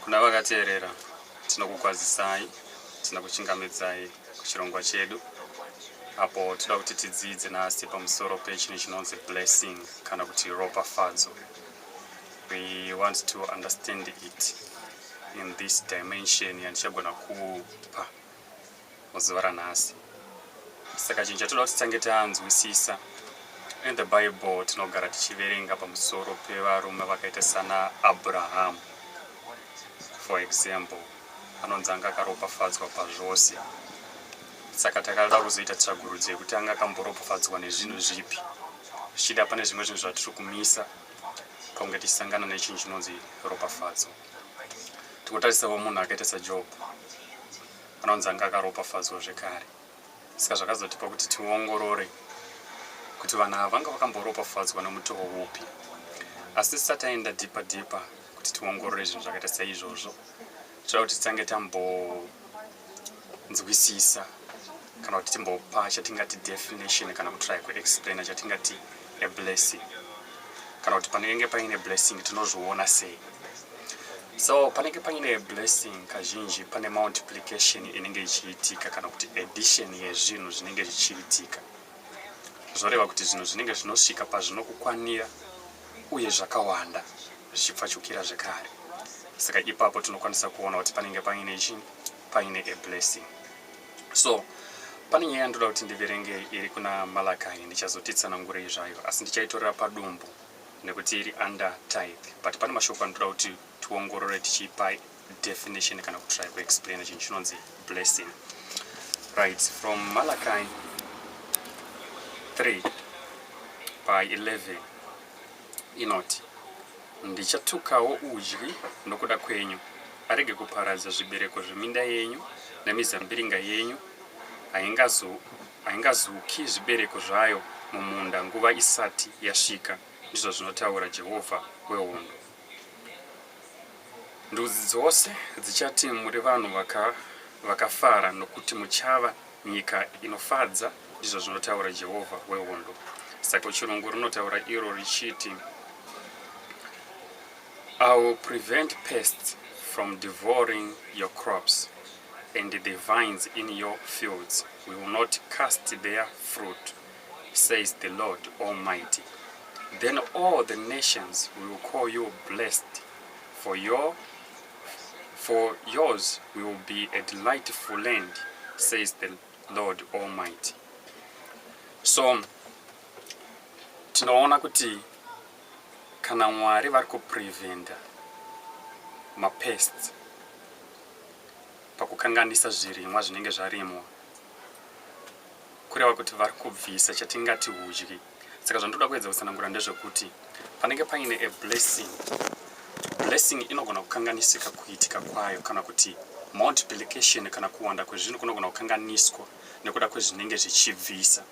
Kuna vakateerera tinokukwazisai, tinokuchingamidzai kuchirongwa chedu apo toda kuti tidzidze nhasi pamusoro pechinhu chinonzi blessing kana kuti ropafadzo. We want to understand it in this dimension yandichagona kupa. muzuva ranhasi saka chinhu chatoda kuti tange tanzwisisa in the bible tinogara tichiverenga pamusoro pevarume vakaita sana abrahamu for example anonzi anga akaropafadzwa pazvose saka takada kuzoita tsvagurudzo yekuti anga akamboropafadzwa nezvinhu zvipi zvichida pane zvimwe zvinhu zvatiri kumisa pakunge tichisangana nechinhu chinonzi ropafadzo tikotarisavo munhu akaita sajob anonzi anga akaropafadzwa zvekare saka zvakazotipa kuti tiongorore kuti vanhu ava vanga vakamboropafadzwa nomutoo upi asi tisati aenda dhipa dhipa kuti tiongorore zvinhu zvakaita seizvozvo toda kuti titange tambonzwisisa kana kuti timbopa chatingati definition kana kutry kuexplaina chatingati neblessing kana kuti panenge paine blessing tinozviona sei so panenge paine blessing kazhinji pane multiplication inenge ichiitika kana kuti addition yezvinhu zvinenge zvichiitika zvoreva kuti zvinhu zvinenge zvinosvika pazvinokukwanira uye zvakawanda zvichipfachukira zvekare saka ipapo tinokwanisa kuona kuti panenge paine chii paine ablessing So pane nyaya yandoda kuti ndiverenge iri kuna Malakai ndichazotitsanangurei zvayo asi ndichaitorera padumbu nekuti iri under tithe but pane mashoko anotoda kuti tiongorore tichipa definition kana kutry kuexplaina chinhu chinonzi blessing right from malakai 3 by 11 inoti, Ndichatukawo udyi nokuda kwenyu, arege kuparadza zvibereko zveminda yenyu nemizambiringa yenyu, haingazuki zvibereko zvayo mumunda nguva isati yasvika, ndizvo zvinotaura Jehovha wehondo. Ndudzi dzose dzichati muri vanhu vakafara, nokuti muchava Nyika inofadza, ndizvo zvinotaura Jehovha wehondo. Saka chirungu rinotaura iro richiti, I will prevent pests from devouring your crops and the vines in your fields will not cast their fruit, says the Lord Almighty. Then all the nations will call you blessed for your For yours will be a delightful land, says the Lord Almighty. So, tinoona kuti kana Mwari vari kupreventa mapests pakukanganisa zvirimwa zvinenge zvarimwa kureva kuti vari kubvisa chatingati hudyi saka zvandoda kuedza kutsanangura ndezvekuti panenge paine a blessing blessing inogona kukanganisika kuitika kwayo kana kuti multiplication kana kuwanda kwezvinhu kunogona kukanganiswa nekuda kwezvinenge zvichibvisa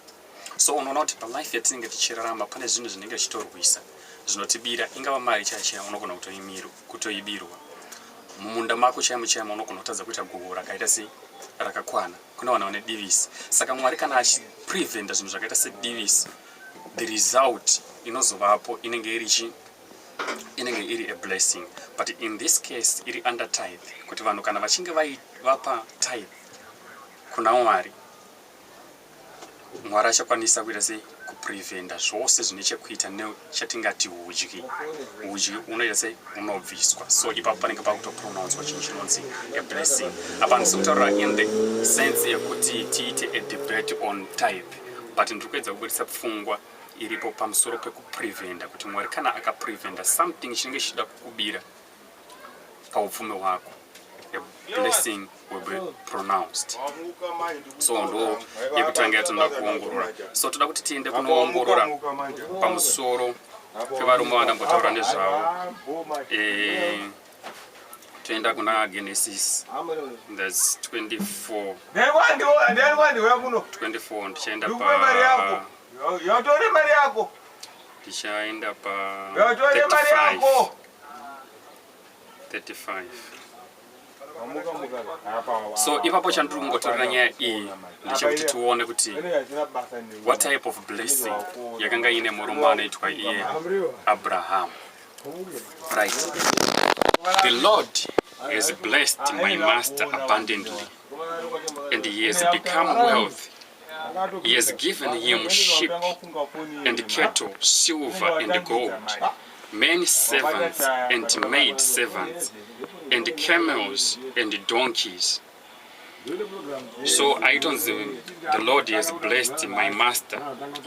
so unoona kuti palife yatinenge tichirarama pane zvinhu zvinenge zvichitorwisa zvinotibira ingava mari chaiyo chaiyo unogona kutoibirwa mumunda mako chaimo chaimo unogona kutadza kuita guhu rakaita sei rakakwana kuna vana vane divisi saka mwari kana achipreventa zvinhu zvakaita sedivisi the result inozovapo inenge iri chi inenge iri a blessing but in this case iri under tithe kuti vanhu kana vachinge vapa tithe kuna mwari Mwari achakwanisa kuita sei kuprevenda zvose zvine chekuita nechatingati hudyi hudyi unoita sei unobviswa so ipapo panenge pakutopronouncwa chinhu chinonzi a blessing apa ndisi kutaura in the sense yekuti tiite a debate on type but ndiri kuedza kubudisa pfungwa iripo pamusoro pekuprevenda kuti mwari kana akaprevenda something chinenge chichida kukubira paupfumi hwako a blessing will be pronounced so ndo yekutanga yatinoda kuongorora so toda kuti tiende kunoongorora pamusoro pevarume vandambotaura nezvavo eh, toenda kuna genesis thats 24 24 ndichaenda pa yotore mari yako ndichaenda pa 35 so ipapo chandiri kungotorera nyaya iyi ndechekuti tione kuti what type of blessing yakanga iine murume anoitwa iye abrahamu right the lord has blessed my master abundantly and he has become wealthy He has given him sheep and cattle, silver and gold, many servants and maid servants, and camels and donkeys. So I don't see the Lord has blessed my master.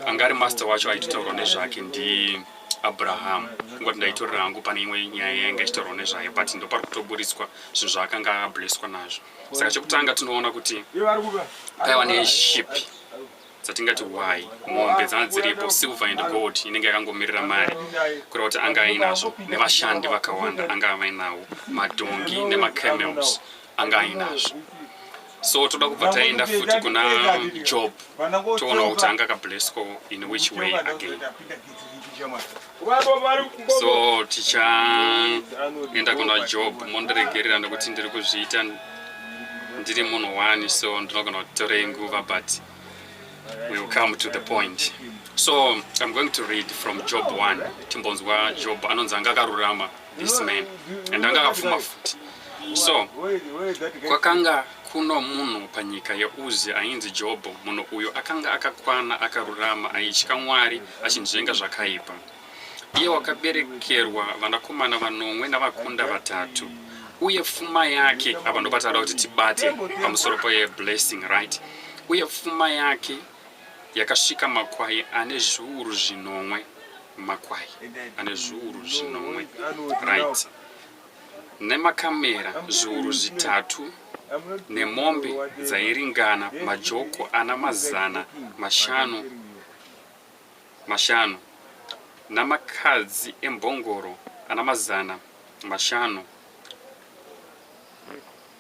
Angari master wacho aitotaurwa nezvake ndi Abraham. Ngoti ndaitorera hangu pane imwe nyaya yanga ichitaurwa nezvayo but ndopari kutoburitswa zvinhu zvaakanga ablesswa nazvo. saka chekutanga tinoona kuti paiva neshipi dzatingati why mombe dzana dziripo silver and gold inenge yakangomirira mari kureva kuti anga ainazvo nevashandi vakawanda anga avainawo madhongi nemacamels anga ainazvo so toda kubva taenda futi kuna job toonawo kuti anga akablesco in which way again so tichaenda kuna job mondiregerera nekuti ndiri kuzviita ndiri munhu one so ndinogona kutorei nguva but we will come to the point so i'm going to read from job one timbonzwa job anonzi anga akarurama this man and anga akapfuma futi so kwakanga kuno munhu panyika yeuzi ainzi jobho munhu uyo akanga akakwana akarurama aitya mwari achinzvenga zvakaipa iye wakaberekerwa vanakomana vanomwe navakunda vatatu uye pfuma yake apa ndopataura kuti tibate pamusoro peblessing right uye pfuma yake Yakasvika makwai ane zviuru zvinomwe. Makwai ane zviuru zvinomwe. Right. Nemakamera zviuru zvitatu nemombe dzairingana majoko ana mazana mashanu mashanu namakadzi embongoro ana mazana mashanu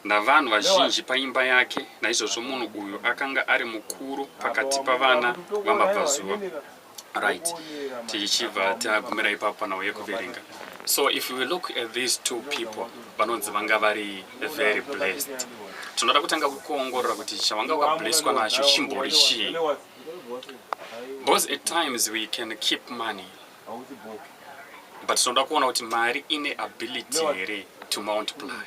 Navanhu vazhinji paimba yake, naizvozvo munhu uyu akanga ari mukuru pakati pavana vamabvazuva. Right, tichibva tagumira ipapo panhau yekuverenga. So if we look at these two people, vanonzi vanga vari very blessed. Tinoda kutanga kuongorora kuti chavanga wakablesswa nacho chimbori chii. Because at times we can keep money but tinoda kuona kuti mari ine ability here to multiply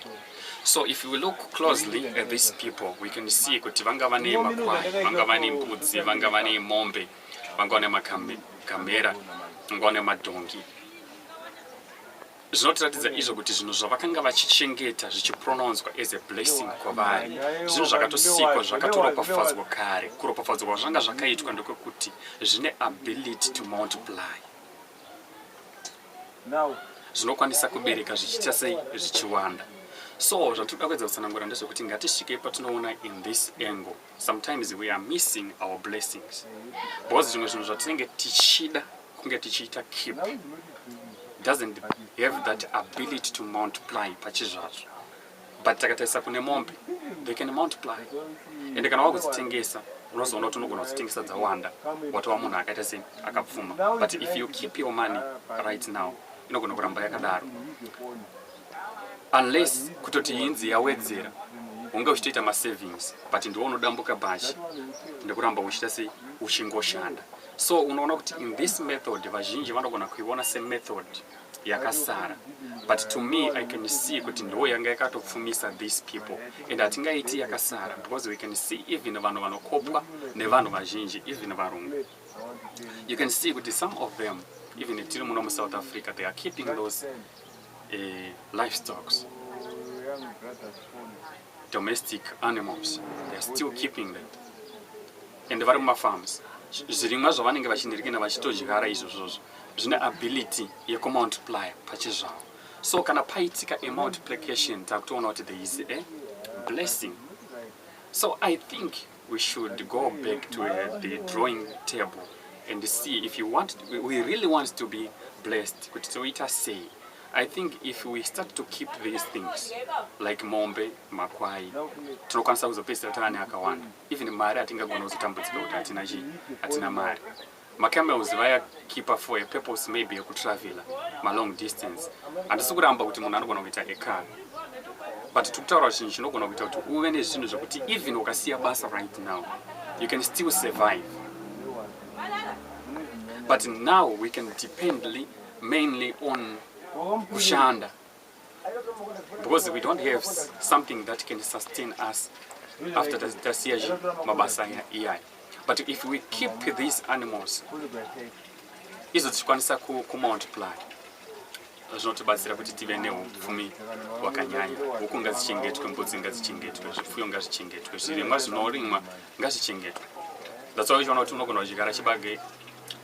so if we look closely at these people we can see kuti vanga vane makwai vanga vane mbudzi vanga vane mombe vanga vane makamera vanga vane madhongi Zvinotiratidza izvo kuti zvinhu zvavakanga vachichengeta zvichipronouncwa as a blessing kwavari zvinhu zvakatosikwa zvakatoropafadzwa kare kuropafadzwa kwazvanga zvakaitwa ndokwekuti zvine ability to multiply zvinokwanisa kubereka zvichiita sei zvichiwanda so zvatinoda kuedza kutsanangura ndezvekuti ngatisvikei patinoona in this angle Sometimes we are missing our blessings because zvimwe zvinhu zvatinenge tichida kunge tichiita keep doesn't have that ability to multiply pachizvazvo but takatarisa kune mombe they can multiply ende kana wakudzitengesa unozoona kuti unogona kudzitengesa dzawanda watova munhu akaita sei akapfuma but if you keep your money right now inogona kuramba yakadaro unless kutoti inzi yawedzera unge uchitoita masavings but ndiwo unodambuka bhachi nekuramba uchiita sei uchingoshanda so unoona kuti in this method vazhinji vanogona kuiona semethod yakasara but to me i can see kuti ndiwo yanga yakatopfumisa these people and hatingaiti yakasara because we can see even vanhu vanokopwa nevanhu vazhinji even varungu you can see kuti some of them even tiri muno musouth africa they are keeping those livestock's domestic animals they're still keeping them and vari mumafarms zvirimwa zvavanenge vachinirikina vachitodyara izvozvozvo zvine ability yekumultiplier pachezvavo so kana paitika a multiplication takutoona kuti there is a blessing so i think we should go back to uh, the drawing table and see if you want we really want to be blessed kuti toita sei i think if we start to keep these things like mombe makwai tinokwanisa kuzopedzisira tava neakawanda even mari hatingagona kuzotambudzika kuti hatina chii hatina mari Ma camels vaya keeper for a purpose maybe yeku traveler ma long distance. Handisi kuramba kuti munhu anogona kuita a car. But tiri kutaura chinhu chinogona kuita kuti uve nezvinhu zvekuti even ukasiya basa right now you can still survive. But now we can dependly mainly on kushanda. because we don't have something that can sustain us after tasiya mabasa iyaya but if we keep these animals izo tichikwanisa kumultiply zvinotibatsira kuti tive neupfumi hwakanyanya huku ngazichengetwe mbudzi ngazichengetwe zvipfuyo ngazvichengetwe zvirimwa zvinorimwa ngazvichengetwe that's why uchiona kuti unogona kuchigara chibage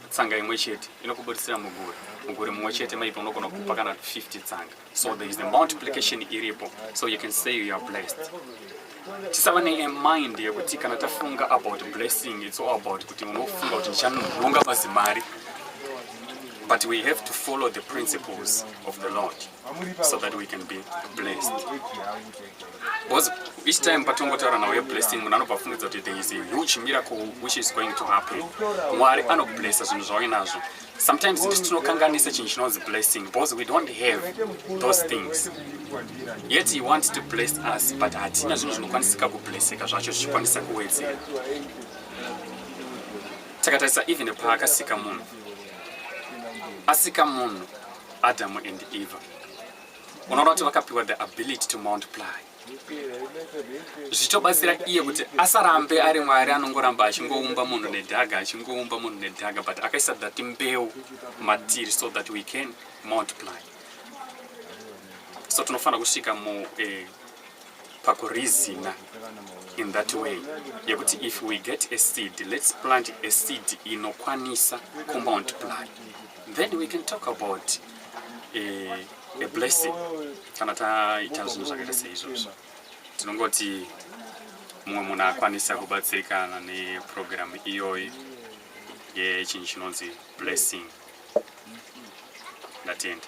tsanga imwe chete inokuburitsira muguri muguri mumwe chete maybe unogona kupa kana 50 tsanga so there is the multiplication iripo so you can say you are blessed tisava nemind yekuti kana tafunga about blessing its all about kuti unofunga kuti ndichanonga mazimari but we have to follow the principles of the lord so that we can be blessed because each time patongotaura nawo yeblessing munhu anobva afungidza kuti there is a huge miracle which is going to happen mwari anoblessa zvinhu zvawainazvo sometimes ndisu tinokanganisa chinhu chinonzi blessing because we don't have those things yet he wants to bless us but hatina zvinhu zvinokwanisika kublesseka zvacho zvichikwanisa kuwedzera takatarisa even paakasika munhu asika munhu Adam and Eva. Unoona kuti vakapiwa the ability to multiply. Zvichitobatsira iye kuti asarambe ari Mwari anongoramba achingoumba munhu nedhaga achingoumba munhu nedhaga but akaisa that mbeu matiri so that we can multiply. So tinofanira kusvika mu eh, pakurizina in that way yekuti if we get a seed let's plant a seed inokwanisa kumultiply then we can talk about a, eh, a blessing kana taita zvinhu zvakaita seizvozvo tinongoti mumwe munhu akwanisa kubatsirikana neprogramu iyoyi yechinhu chinonzi blessing ndatenda